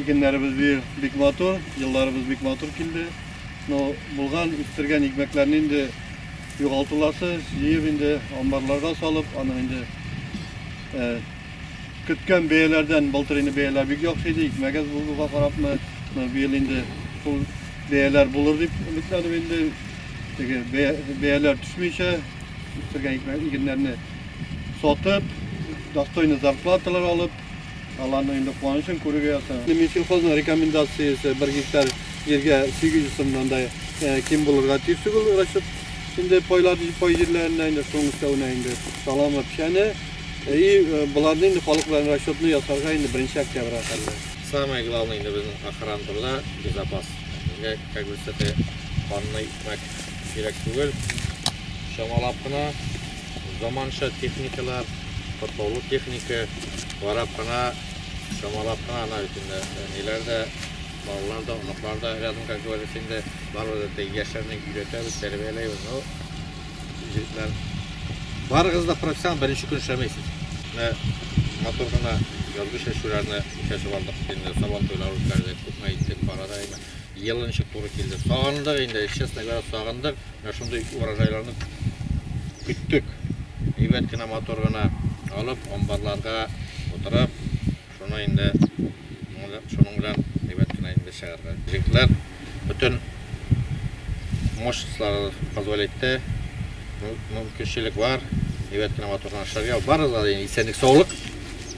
Игеннәребез быел бик матур, елларыбыз бик матур килде. Но булган, үстергән икмәкләрне инде югалтуласы, җыеп инде амбарларга салып, аны инде э, көткән бәяләрдән былтыр инде бәяләр бик яхшы иде, икмәгәз булуга карапмы, но быел инде шул бәяләр булыр дип өметләнеп инде теге бәяләр төшмичә үстергән икмәк игеннәрне сатып, достойный зарплаталар алып, Аларның инде куанычын күрергә язсын. Минсельхозның рекомендациясе бер гектар җиргә 800 сумнан да ким булырга тиеш түгел расчет. Инде пайлар, пай җирләренә инде шуның өстәвенә инде саламы, печәне. И боларны инде халык белән расчетны ясарга инде беренче октябрьгә хәлле. Самое главное инде безнең охрана турда безопасность. Безгә как бы с этой панной икмәк кирәк түгел. Чамалап кына заманча техникалар, катлаулы техника, карап кына, чамалап кына ана өчен ниләр дә, балалар да, оныклар да рядом, как говорится, инде барыбыз да яшьләрне өйрәтәбез, тәрбияләйбез. Ну, җегетләр, барыгыз да профессионал, беренче көн эшләмәйсез. Менә матур гына язгы чәчүләрне чәчеп алдык, инде сабан туйлары үткәрдек, күпме иттек, парада, әйме. Ел ничек туры килде. Сагындык инде, честно говоря, сагындык. Менә шундый урожайларны көттек. Әйбәт кенә, матур гына алып, амбарларга утырып, шуны инде шуның белән әйбәт кенә инде чыгарга. Җегетләр бөтен мощностьлары позволь итте. Мөмкинчелек бар. Әйбәт кенә матур гына эшләргә. Барыгызга да исәнлек, саулык.